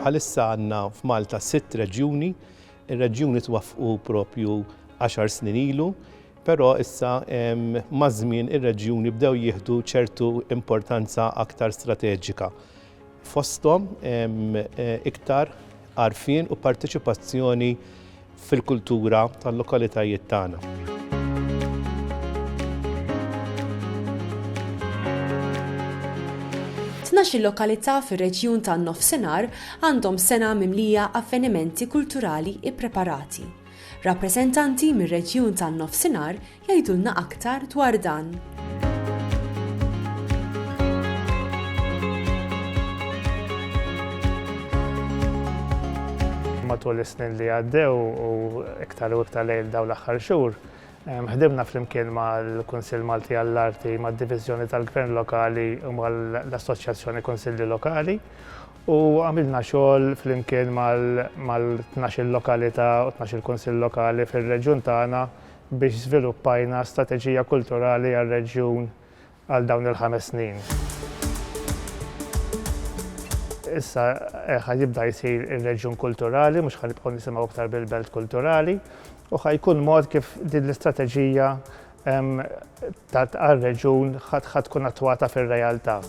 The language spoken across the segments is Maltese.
Bħalissa għandna f'Malta sitt reġjuni. Ir-reġjuni twaffqu proprju għaxar snin ilu, però issa maż-żmien ir-reġjuni bdew jieħdu ċertu importanza aktar strateġika. fosthom iktar għarfien u parteċipazzjoni fil-kultura tal-lokalitajiet tagħna. Tnax-il lokalità fir-reġjun tan-Nofsinhar għandhom sena mimlija avvenimenti kulturali ppreparati. Rappreżentanti mir-reġjun tan-Nofsinhar jgħidulna aktar dwar dan. matul is-snin li għaddew u iktar u iktar lejl daw l-aħħar xhur. Ħdimna flimkien mal-Kunsill Malti għall-Arti, mad-Diviżjoni tal-Gvern Lokali u mal-Assoċjazzjoni Kunsilli Lokali u għamilna xogħol flimkien mal-12 lokalità u 12 kunsill lokali fir-reġjun tagħna biex żviluppajna strateġija kulturali għar-reġjun għal dawn il-ħames snin. Issa ħa jibda jsir ir-reġjun kulturali, mhux ħa nibqgħu nisimgħu aktar bil-belt kulturali, u ħa jkun mod kif din l-istrateġija tard għar-reġjun ħa tkun attwata fir-realtà.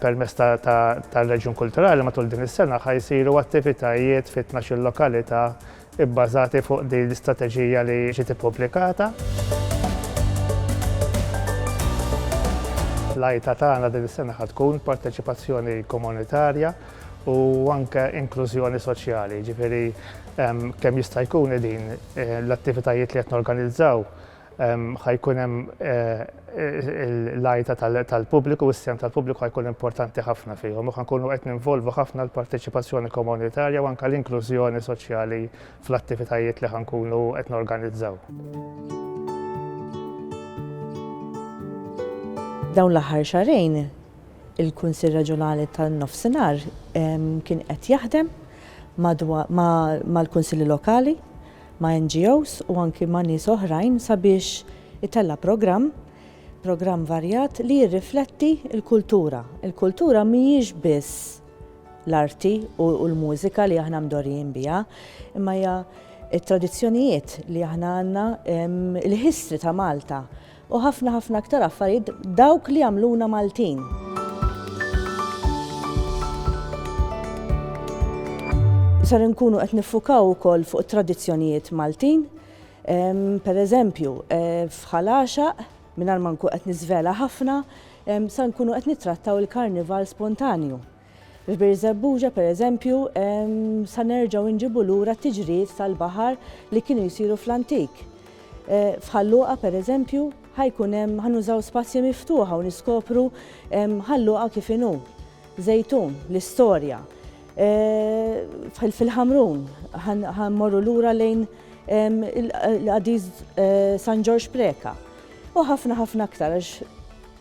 Permezz tar-Reġjun Kulturali matul din is-sena ħa jsiru attivitajiet fi tnax-il lokalità bbażati fuq din l-istrateġija li ġiet ippubblikata. L-għajta tagħna din is-sena ħa tkun parteċipazzjoni komunitarja u anke inklużjoni soċjali, jiġifieri Kemm jista' jkun qegħdin l-attivitajiet li qed norganizzaw ħa jkun hemm l-għajta tal-pubbliku, is-sehem tal-pubbliku ħa jkun importanti ħafna fihom u ħa nkunu qed ninvolvu ħafna l-parteċipazzjoni komunitarja u anke l-inklużjoni soċjali fl-attivitajiet li ħa nkunu qed norganizzaw. Dawn l-aħħar xahrejn Il-Kunsill Reġjonali tan-Nofsinhar kien qed jaħdem mal-Kunsilli Lokali, ma' NGOs u anki ma' nies oħrajn sabiex itella' programm, programm varjat li jirrifletti l-kultura. Il-kultura mhijiex biss l-arti u l-mużika li aħna mdorrijin biha, imma hija t-tradizzjonijiet li aħna għandna, il-history ta' Malta. U ħafna ħafna aktar affarijiet dawk li jagħmluna Maltin. Ser inkunu qed niffukaw ukoll fuq it-tradizzjonijiet Maltin. Pereżempju, eh, f'ħal għaxaq, mingħajr ma nkun qed niżvela ħafna, se nkunu qed nittrattaw il-karnival spontanju. F'Birżebbuġa, pereżempju, sa nerġgħu nġibu lura t-tiġrijiet tal-baħar li kienu jsiru fl-antik. F'Ħal Luqa, pereżempju, ħa jkun hemm, ħa nużaw spazji miftuħa u niskopru Ħal Luqa kif inhu. Żejtun, l-istorja. Fil-Ħamrun, ħa mmorru lura lejn il-qadis San Ġorġ Preca. U ħafna ħafna aktar għax.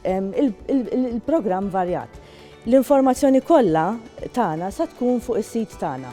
Il-programm varjat. L-informazzjoni kollha tagħna sa tkun fuq is-sit tagħna.